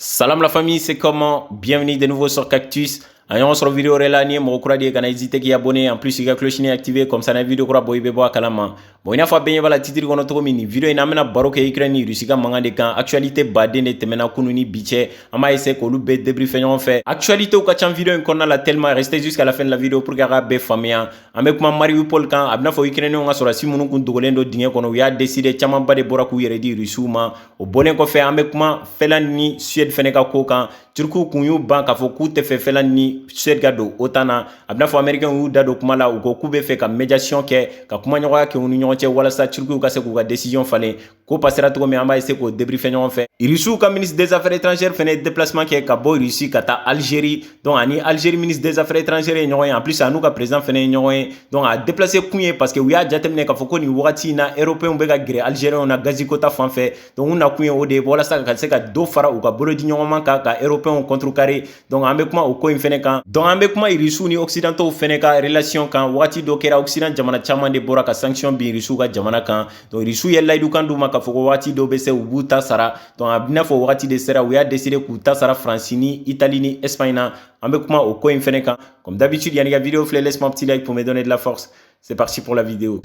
Salam la famille, c'est comment Bienvenue de nouveau sur Cactus. An ye ɲɔgɔn sɔrɔ vidéo wɛrɛ la n'i ye mɔgɔ kura de ye kana hésiter k'i abonner en plus i ka cloche ni activer comme ça na vidéo kura bɔ i bɛ bɔ a kalama bon i n'a fɔ a bɛɛ ɲɛ b'a la titre kɔnɔ cogo min nin vidéo in na an bɛna baro kɛ Ukraine ni Russie ka mankan de kan actualité baden de tɛmɛna kunu ni bi cɛ an b'a essayer k'olu bɛɛ débriefer ɲɔgɔn fɛ actualités ka ca vidéo in kɔnɔna la tellement restez jusqu'à la fin de la vidéo pour que a k'a bɛɛ faamuya an bɛ kuma Mariupol kan a b'i n'a fɔ Ukrainiens ka sɔrɔdasi minnu kun dogolen don dingɛ kɔnɔ u y'a décider camanba de bɔra k'u yɛrɛ di Russie ma o bɔlen kɔfɛ an bɛ kuma Finlande ni Suède fana ka ko kan turukiw kun y'u ban k'a fɔ k'u tɛ fɛ Finlande ni Suède ka don OTAN na a b'i n'a fɔ amerikɛnw y'u da don kuma la u ko k'u bɛ fɛ ka médiation kɛ ka kumaɲɔgɔnya kɛ u ni ɲɔgɔn cɛ walasa turukiw ka se k'u ka décision falen ko pasera cogo min an b'a essayer k'o débriefer ɲɔgɔn fɛ irisiw ka ministre des affaires étrangères fana ye déplacement kɛ ka bɔ irisi ka taa Algérie Donc a ni Algérie ministre des affaires étrangères ye ɲɔgɔn ye en plus a n'u ka président fana ye ɲɔgɔn ye donc a déplacé kun ye parce que u y'a jateminɛ k'a fɔ ko nin wagati in na européens bɛ ka gɛrɛ algériens na gazi ko ta fan fɛ donc u na kun ye o de ye walasa ka se ka dɔ fara u ka bolodiɲɔgɔnma kan ka européens contrecarrer donc an bɛ kuma o ko in fana kan donc an bɛ kuma irisiw ni occidentaux fana ka relation kan wagati dɔ kɛra occident jamana caman de bɔra ka sanction bin irisiw ka jamana kan donc irisiw ye layidukan d'u ma k'a fɔ ko wagati dɔ bɛ se u b'u ta sara Donc a b'i n'a fɔ wagati de sera u y'a décider k'u ta sara faransi ni itali ni espagne na an bɛ kuma o ko in fɛnɛ kan comme d'habitude yann'i ka vidéo filɛ laisse-moi un petit like pour me donner de la force c'est parti pour la vidéo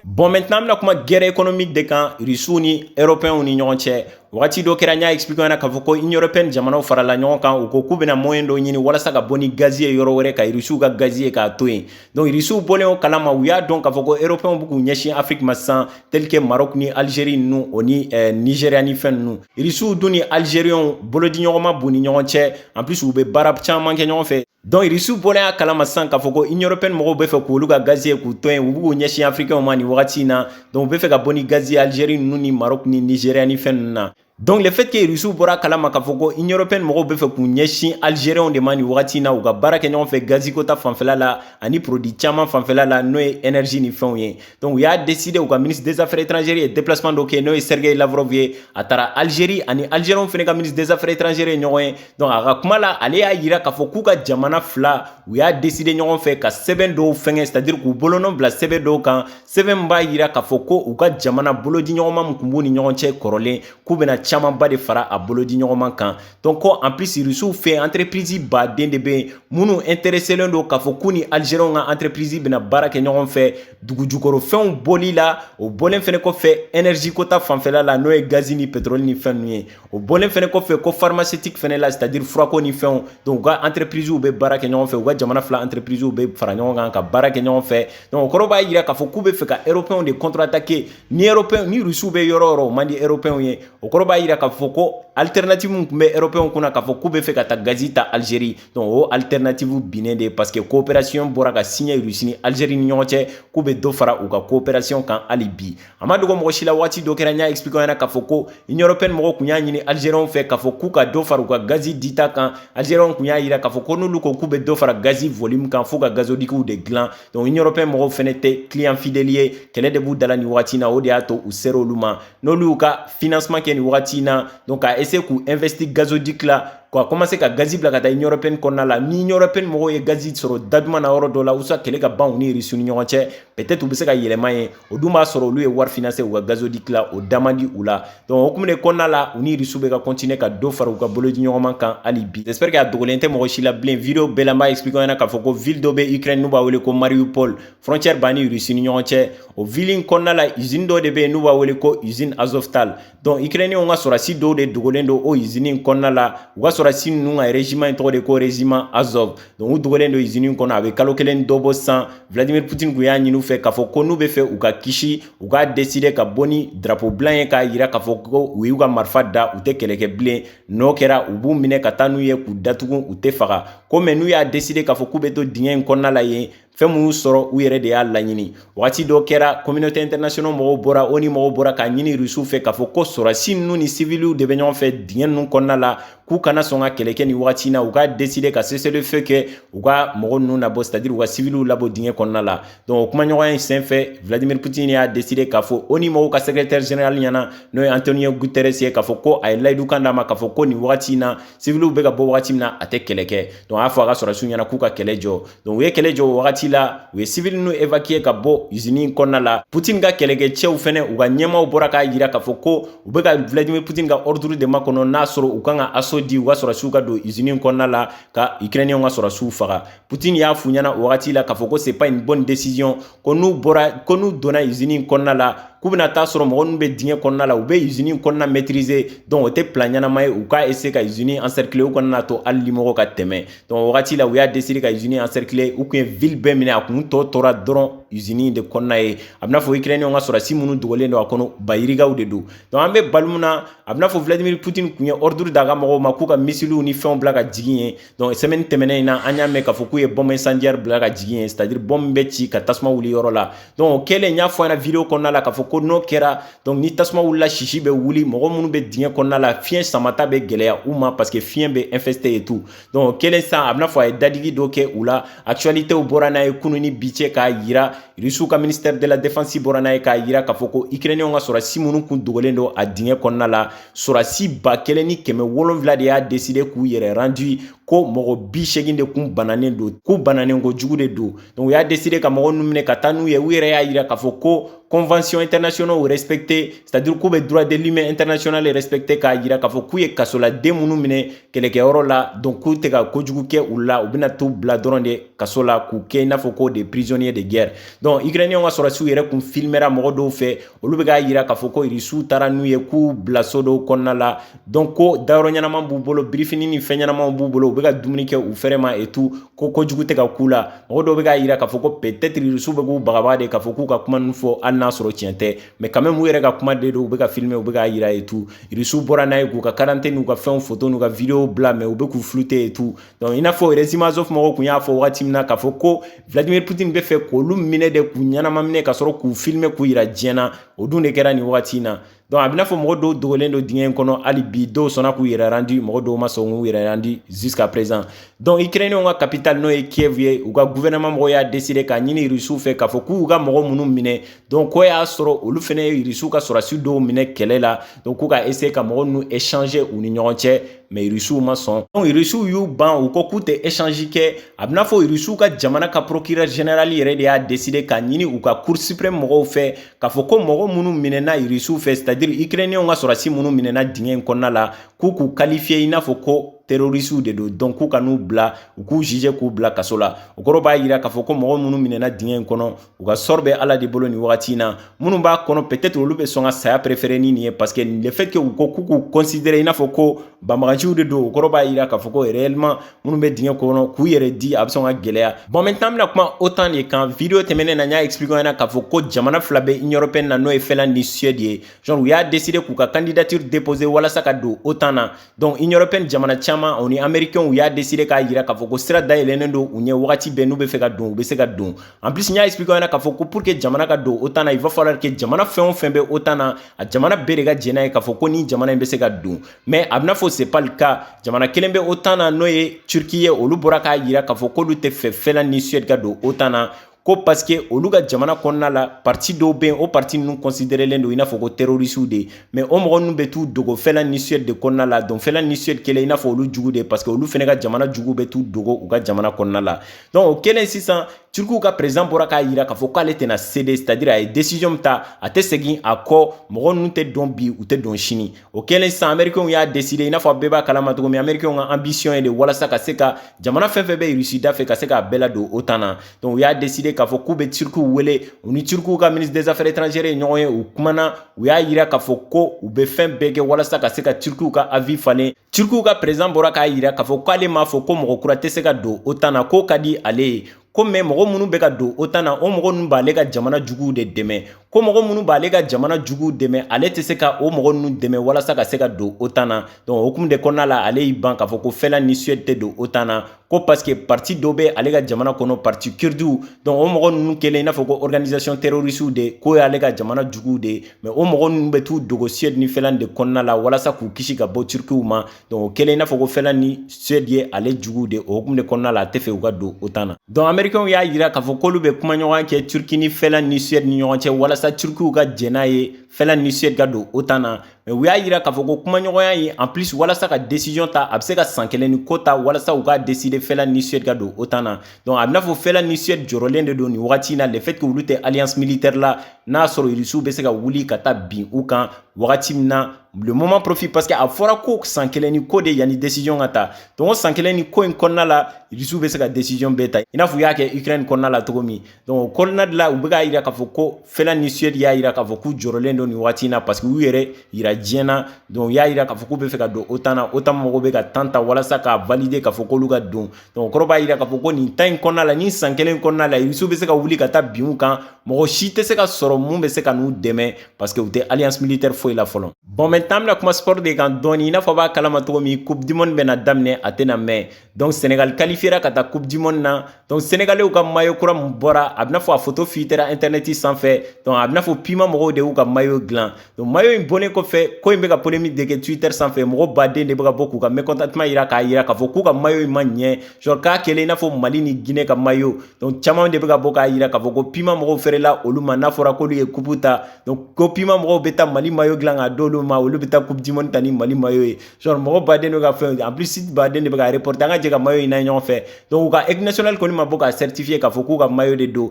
Bon maintenant an bɛna kuma guerre économique de kan Russie ni Européens ni ɲɔgɔn cɛ wagati dɔ kɛra n y'a expliquer yan na k'a fɔ ko Union Européenne jamanaw farala ɲɔgɔn kan u ko k'u bɛna moyen dɔ ɲini walasa ka bɔ ni gazi ye yɔrɔ wɛrɛ ka Irisiw ka gazi ye k'a to yen donc Irisiw bɔlen o kalama u y'a dɔn k'a fɔ ko Européens bɛ k'u ɲɛsin Afrique ma sisan tel que Maroc ni Algérie ninnu o ni eh, Nigeria ni fɛn ninnu Irisiw dun ni Algériens bolodiɲɔgɔnma b'u ni ɲɔgɔn cɛ en plus u bɛ baara caman kɛ ɲɔgɔn fɛ donc irisiw bɔlen a kalama sisan k'a fɔ ko Union Européenne mɔgɔw bɛ fɛ k'olu ka gazi ye k'o to yen u b'u ɲɛsin afirikɛnw ma nin wagati in na donc u bɛ fɛ ka bɔ ni gazi ye algérie ninnu ni maroc ni nigéria ni fɛn ninnu na donc le fait que irisiw bɔra a kalama k'a fɔ ko Union Européenne mɔgɔw bɛ fɛ k'u ɲɛsin algérienw de ma nin wagati in na u ka baara kɛ ɲɔgɔn fɛ gazi ko ta fanfɛla la ani produit caman fanfɛla la n'o ye énergie ni fɛnw ye donc u y'a décider u ka ministre des affaires étrangères ye déplacement dɔ kɛ n'o ye sergei lavrov ye a taara algérie a ni algérienw fana ka ministre des affaires étrangères ye ɲɔgɔn ye donc a ka kuma la ale y'a yira k'a fɔ k'u ka jamana fila u y'a décider ɲɔgɔn fɛ ka sɛbɛn dɔw fɛngɛ c'est-à-dire k'u bolonɔ bila sɛbɛn dɔw kan sɛbɛn b'a yira k'a fɔ ko u ka jamana bolodiɲɔgɔnma min kun b'u ni ɲɔgɔn cɛ kɔrɔlen k'u bɛna camanba de fara a bolodiɲɔgɔnma kan donc en plus irisiw fɛ entreprise baden de bɛ yen minnu intéresselen don k'a fɔ k'u ni algérienw ka entreprise bɛna baara kɛ ɲɔgɔn fɛ dugujukɔrɔfɛnw bɔli la o bɔlen fana kɔfɛ énergie ko ta fanfɛla la n'o ye gazi ni pétrole ni fɛn ye o bɔlen fɛnɛ kɔfɛ ko pharmaceutique fɛnɛ la c'est-à-dire furako ni fɛnw donc u ka entreprisew bɛ baara kɛ ɲɔgɔn fɛ u ka jamana fila entreprisew bɛ fara ɲɔgɔn kan ka baara kɛ ɲɔgɔn fɛ donc o kɔrɔ b'a yira k'a fɔ k'u bɛ fɛ ka européens de contre-attaquer ni européens ni rusiw bɛ yɔrɔ yɔrɔ o man di européens ye o kɔrɔ b'a yira k'a fɔ ko alternative min kun bɛ européens kunna k'a fɔ k'u bɛ fɛ ka taa gazi ta Algérie donc o alternative binnen de parce que coopération bɔra ka signer Russie ni Algérie ni ɲɔgɔn cɛ k'u bɛ dɔ fara u ka coopération kan hali bi a ma dogo mɔgɔ si la waati dɔ kɛra n y'a expliquer ɲɛna k'a fɔ ko union européenne mɔgɔw kun y'a ɲini algériens fɛ k'a fɔ k'u ka dɔ fara u ka gazi dita kan algériens kun y'a yira k'a fɔ ko n'olu ko k'u bɛ dɔ fara gazi volume kan f'u ka gazoducw de dilan donc union européenne mɔgɔw fɛnɛ tɛ client fidèle ye kɛlɛ de b'u da la nin wagati na o de y'a to u sera olu ma n'olu y'u ka financement kɛ nin wagati na donc ka essayer k'u investir gazoduc la ka commencer ka gazi bila ka taa union européenne kɔnɔna la ni union européenne mɔgɔw ye gazi sɔrɔ da duman na yɔrɔ dɔ la ou soit kɛlɛ ka ban u ni Russie ni ɲɔgɔn cɛ peut-être u bɛ se ka yɛlɛma yen o dun b'a sɔrɔ olu ye wari finɛ se u ka gazodi tila o dama di u la dɔnku o tun kɔnɔna la u ni yiririso bɛ ka kɔntinen ka don fara u ka bolo di ɲɔgɔnma kan hali bi sɛpri ka dogolen tɛ mɔgɔ si la bilen vdo bɛɛlaba ye sbikɛɲɛna k'a fɔ ko v dɔ bɛ ikr n'u b'a wele ko mariu paul fcɛri ban ni yiririurusini ɲɔgɔn cɛ o v kɔnɔna la z dɔ de bɛ yen n'u b'a wele ko z azota dɔnku ikirɛninw ka sɔrɔdasi dɔw de dogolen don o izini in kɔnɔna la u ka sɔrɔdasi ninnu ka rezima in tɔgɔ de ko rezima Azov dɔnku u dogolen don izini in kɔnɔ a bɛ kalo kelen dɔ bɔ sa vladimir putin kun y'a ɲini u fɛ k'a fɔ ko n'u bɛ fɛ u ka kisi u k'a deside ka bɔ ni drapeau blanc ye k'a yira k'a fɔ ko u y'u ka marifa da u tɛ kɛlɛkɛ bilen n'o kɛra u b'u minɛ ka taa n'u ye k'u datugu u tɛ faga ko mais n'u y'a deside k'a fɔ k'u bɛ to dingɛ in kɔnɔna la yen fɛn man'u sɔrɔ u yɛrɛ de y'a laɲini wagati dɔ kɛra communauté internationale mɔgɔw bɔra ONU mɔgɔw bɔra k'a ɲini rusiw fɛ k'a fɔ ko sɔrɔdasi ninnu ni siviliw de bɛ ɲɔgɔn fɛ dingɛ ninnu kɔnɔna la k'u kana sɔn ka kɛlɛ kɛ nin wagati na u ka deside ka cessez-le-feu kɛ u ka mɔgɔ ninnu nabɔ c'est à dire u ka siviliw labɔ dingɛ kɔnɔna la donc o kumaɲɔgɔnya in senfɛ vladimir putin y'a deside k'a fɔ ONU mɔgɔw ka secrétaire général ɲɛna n'o ye antonio guterres ye k'a fɔ ko a ye layidukan d'a ma k'a fɔ ko nin wagati na siviliw bɛ ka bɔ wagati min na a tɛ kɛlɛ kɛ donc a y'a fɔ a ka sɔrɔsiw ɲɛna k'u ka kɛlɛ jɔ donc u ye kɛlɛ jɔ o wagati la u ye sivili ninnu évacuer ka bɔ usini in kɔnɔna la putin ka kɛlɛkɛcɛw fɛnɛ u ka ɲɛmaaw bɔra k'a yira k'a fɔ ko u bɛ ka vladimir putin ka ordre de makɔnɔ n'a sɔrɔ u kan ka assaut di u ka sɔrɔsiw ka don usini in kɔnɔna la ka ukrainiyɛnw ka sɔrɔsiw faga Poutine y'a f'u ɲɛna o wagati la k'a fɔ ko c'est pas une bonne décision ko n'u donna usine in kɔnɔna la k'u bɛna taa sɔrɔ mɔgɔ ninnu bɛ dingɛ kɔnɔna la u bɛ usine in kɔnɔna maîtriser donc o tɛ plan ɲɛnama ye u k'a essayer ka usine in encercler u kana a to hali limɔgɔ ka tɛmɛ donc o wagati la u y'a décider ka usine in encercler u kun ye ville bɛɛ minɛ a kun tɔ tora dɔrɔn usine in de kɔnɔna ye a bɛna fɔ ukrainien ka sɔrɔsi minnu dogolen don a kɔnɔ bayirigaw de don donc an bɛ baro min na a bɛna fɔ vladimir poutine kun ye ordre d'a ka mɔgɔw ma k'u ka missiliw ni fɛnw bila ka jigin yen Donc semaine tɛmɛnen in na an y'a mɛn k'a fɔ k'u ye bombe incendiaire bila ka jigin yen c'est à dire bombe bɛ ci ka tasuma wuli yɔrɔ la donc o kɛlen n y'a fɔ aw ɲɛna video kɔnɔna la k'a fɔ ko n'o kɛra donc ni tasuma wulila sisi bɛ wuli mɔgɔ minnu bɛ dingɛ kɔnɔna la fiɲɛ samata bɛ gɛlɛya u ma parce que fiɲɛ bɛ infesté et tout donc o kɛlen sisan a bɛna fɔ a ye dadigi dɔ kɛ u la actualitéw bɔra n'a ye kunun ni bi cɛ k'a yira rusiw ka ministère de la défense bɔra n'a ye k'a yira k'a fɔ ko ukrainienw ka sɔrɔdasi minnu kun dogolen don a dingɛ kɔnɔna la Sɔrɔdasi ba kelen ni kɛmɛ wolonwula de y'a décider k'u yɛrɛ rendu ko mɔgɔ bi seegin de kun bananen don k'u bananen kojugu de don donc u y'a décider ka mɔgɔ ninnu minɛ ka taa n'u ye u yɛrɛ y'a yira k'a fɔ ko convention internationale respecter c'est à dire k'u bɛ droit de l'humain international respecter k'a yira k'a fɔ k'u ye kasoladen minnu minɛ kɛlɛkɛyɔrɔ la donc k'u tɛ ka kojugu kɛ u la u bɛna t'u bila dɔrɔn de kaso la k'u kɛ i n'a fɔ ko des prisonniers de guerre donc ukrainienw ka sɔrɔdasiw yɛrɛ kun filmera mɔgɔ dɔw fɛ olu bɛ k'a yira k'a fɔ ko irisiw taara n'u ye k'u bila so dɔw kɔnɔna la donc ko dayɔrɔ ɲɛnama b'u bolo birifini ni fɛn ɲɛnamaw b'u bolo u bɛ ka dumuni kɛ u fɛrɛ ma et tout ko kojugu tɛ ka k'u la mɔgɔ dɔw bɛ k'a yira k'a fɔ ko peut-être irisiw bɛ k'u bagabaga de k'a fɔ k'u ka kuma ninnu fɔ hali n'a sɔrɔ tiɲɛ tɛ mais quand même u yɛrɛ ka kuma de don u bɛ ka filmer u bɛ k'a yira et tout irisiw bɔra n'a ye k'u ka quarantaine n'u ka fɛnw foto n'u ka video bila mais u bɛ k'u flouter et tout Donc, i n'a fɔ Régiment Azov mɔgɔw kun y'a fɔ wagati min na k'a fɔ ko Vladimir Putin bɛ fɛ k'olu minɛ de k'u ɲɛnama minɛ ka sɔrɔ k'u filime k'u yira diɲɛ na o dun de kɛra nin wagati in na donc a bɛ n'a fɔ mɔgɔ dɔw dogolen don dingɛ in kɔnɔ hali bi dɔw sɔnna k'u yɛrɛ rendu mɔgɔ dɔw ma sɔn k'u yɛrɛ rendu jusqu'à présent donc ukrainienw ka capitale n'o ye kiev ye u ka gouvernement mɔgɔw y'a décider k'a ɲini rusiw fɛ k'a fɔ k'u ka mɔgɔ minnu minɛ donc k'o y'a sɔrɔ olu fɛnɛ ye rusiw ka sɔrɔdasi dɔw minɛ kɛlɛ la donc k'u ka essayer ka mɔgɔ ninnu échanger u ni ɲɔgɔn cɛ mais rusiw ma sɔn donc rusiw y'u ban u ko k'u tɛ échange kɛ a bɛna fɔ rusiw ka jamana ka procureur général yɛrɛ de y'a décider k'a ɲini u ka cour suprême mɔgɔw fɛ k'a fɔ ko mɔgɔ minnu minɛna rusiw fɛ c'est à dire ukrainiens ka sɔrɔdasi minnu minɛna dingɛ in kɔnɔna la k'u k'u qualifier i n'a fɔ ko terorisiw de don donc k'u ka n'u bila u k'u juger k'u bila kaso la o kɔrɔ b'a yira k'a fɔ ko mɔgɔ minnu minɛna dingɛ in kɔnɔ u ka sort bɛ ala de bolo nin wagati in na minnu b'a kɔnɔ peut-être olu bɛ sɔn ka saya préférer ni nin ye parce que le fait que u ko k'u k'u considérer i n'a fɔ ko banbaganciw de don o kɔrɔ b'a yira k'a fɔ ko réellement minnu bɛ dingɛ kɔnɔ k'u yɛrɛ di a bɛ sɔn ka gɛlɛya bon maintenant an bɛna kuma OTAN de kan video tɛmɛnen na n y'a expliquer ɲɛna k'a fɔ ko jamana fila bɛ Union européenne na n'o ye Finlande ni Suède ye genre u y'a décider k'u ka candidature déposer walasa ka don OTAN na donc union européenne jamana caman o ni américainw u y'a décidé k'a yira k'a fɔ ko sira dayɛlɛnnen don u ɲɛ wagati bɛɛ n'u bɛ fɛ ka don u bɛ se ka don en plus n y'a expliqué ɲɛna k'a fɔ ko pour que jamana ka don otan na il va falloir que jamana fɛn o fɛn bɛ otan na a jamana bɛɛ de ka jɛn n'a ye k'a fɔ ko ni jamana in bɛ se ka don mais a bɛna fɔ c'est pas le cas jamana kelen bɛ otan na n'o ye turquie ye olu bɔra k'a yira k'a fɔ k'olu tɛ fɛ finlande ni suède ka don otan na ko parce que olu ka jamana kɔnɔna la parti dɔw bɛ yen o parti ninnu considerelen don i n'a fɔ ko terrorisiw de mais o mɔgɔ ninnu bɛ t'u dogo Finlande ni Suède de kɔnɔna la donc Finlande ni Suède kɛlen i n'a fɔ olu jugu de ye parce que olu fɛnɛ ka jamana jugu bɛ t'u dogo u ka jamana kɔnɔna la donc o kɛlen sisan turkiw ka président bɔra k'a yira k'a fɔ k'ale tɛna céder c'est à dire a ye décision min ta a tɛ segin a kɔ mɔgɔ ninnu tɛ don bi u tɛ don sini o kɛlen sisan amerikɛnw y'a décider i n'a fɔ a bɛɛ b'a kalama cogo min amerikɛnw ka ambition ye de walasa ka se ka jamana fɛn fɛn bɛ Russie da fɛ ka se k'a bɛɛ ladon OTAN na donc u y'a décider k'a fɔ k'u bɛ turkiw wele u ni turkiw ka ministre des affaires étrangères ye ɲɔgɔn ye u kumana u y'a yira k'a fɔ ko u bɛ fɛn bɛɛ kɛ walasa ka se ka turkiw ka avis falen turkiw ka président bɔra k'a yira k'a fɔ k'ale m'a fɔ ko mɔgɔ kura tɛ se ka don OTAN na k'o ka di ale ye ko mais mɔgɔ minnu bɛ ka don OTAN na o mɔgɔ ninnu b'ale ka jamana juguw de dɛmɛ ko mɔgɔ minnu b'ale ka jamana juguw dɛmɛ ale tɛ se ka o mɔgɔ ninnu dɛmɛ walasa ka se ka don OTAN na donc o hukumu de kɔnɔna la ale y'i ban k'a fɔ ko Finlande ni Suède tɛ don OTAN na ko parce que parti dɔ bɛ ale ka jamana kɔnɔ parti kurdiw donc o mɔgɔ ninnu kɛlen i n'a fɔ ko organisation terrorisiw de k'o y'ale ka jamana juguw de ye mais o mɔgɔ ninnu bɛ t'u dogo Suède ni Finlande de kɔnɔna la walasa k'u kisi ka bɔ turkiw ma Donc o kɛlen i n'a fɔ ko Finlande ni Suède ye ale juguw de o hukumu de kɔnɔna la a tɛ fɛ u ka don OTAN na donc américains y'a yira k'a fɔ k'olu bɛ kumaɲɔgɔnya kɛ Turquie ni Finlande ni Suède ni ɲɔgɔn cɛ walasa Turkiw ka jɛn n'a ye Finlande ni Suède ka don OTAN na mais u y'a yira k'a fɔ ko kumaɲɔgɔnya ye en plus walasa ka décision ta a bɛ se ka san kelen ni ko ta walasa u k'a décider Finlande ni Suède ka don OTAN na donc a bɛ n'a fɔ Finlande ni Suède jɔrɔlen de don nin wagati in na le fait que olu tɛ alliance militaire la n'a sɔrɔ Rusiw bɛ se ka wuli ka taa bin u kan wagati min na le moment profite parce que a fɔra ko san kelen ni ko de yanni décision ka ta donc o san kelen ni ko in kɔnɔna la rusiw bɛ se ka décision bɛɛ ta i n'a fɔ u y'a kɛ ukraine kɔnɔna la cogo min donc o kɔnɔna de la u bɛ k'a yira k'a fɔ ko finlande ni suède y'a yira k'a fɔ k'u jɔrɔlen don nin wagati in na parce que u yɛrɛ yira diɲɛ na donc u y'a yira k'a fɔ k'u bɛ fɛ ka don otan na otan mɔgɔw bɛ ka temps ta walasa k'a valider k'a fɔ k'olu ka don donc o kɔrɔ b'a yira k'a fɔ ko nin temps in kɔnɔna la nin san kelen kɔnɔna la rusiw bɛ se ka wuli ka taa bin u kan mɔgɔ si tɛ se ka sɔrɔ min bɛ se ka n'u dɛmɛ parce que u tɛ alliance militaire foyi la fɔlɔ bon maintenant an bɛna kuma sport de kan dɔɔni i n'a fɔ b'a kalama cogo min coupe du monde bɛna daminɛ a tɛna mɛn donc sénégal qualifiera ka taa coupe du monde na donc sénégalais ka mayo kura min bɔra a bɛ n'a fɔ a photo filtrera internet sanfɛ donc a bɛ n'a fɔ puma mɔgɔw de y'u ka mayo dilan donc mayo in bɔlen kɔfɛ ko in bɛ ka polémique de kɛ twitter sanfɛ mɔgɔ baden de bɛ ka bɔ k'u ka mécontentement yira k'a yira k'a fɔ k'u ka mayo in ma ɲɛ genre k'a kɛlen i n'a fɔ mali ni guinée ka mayo donc caman de bɛ ka bɔ k'a yira k'a fɔ ko puma mɔgɔw fɛrɛla olu ma n'a fɔra k'olu ye coupe ta donc ko puma mɔgɔw bɛ taa mali mayo dilan k'a d'olu ma olu bɛ taa coupe du monde ta ni mali mayo ye genre mɔgɔ baden de ka fɛn en plus site baden de bɛ ka reporter an ka jɛ ka mayo in na ɲɔgɔn fɛ donc u ka équipe nationale kɔni ma bɔ k'a certifier k'a fɔ k'u ka mayo de don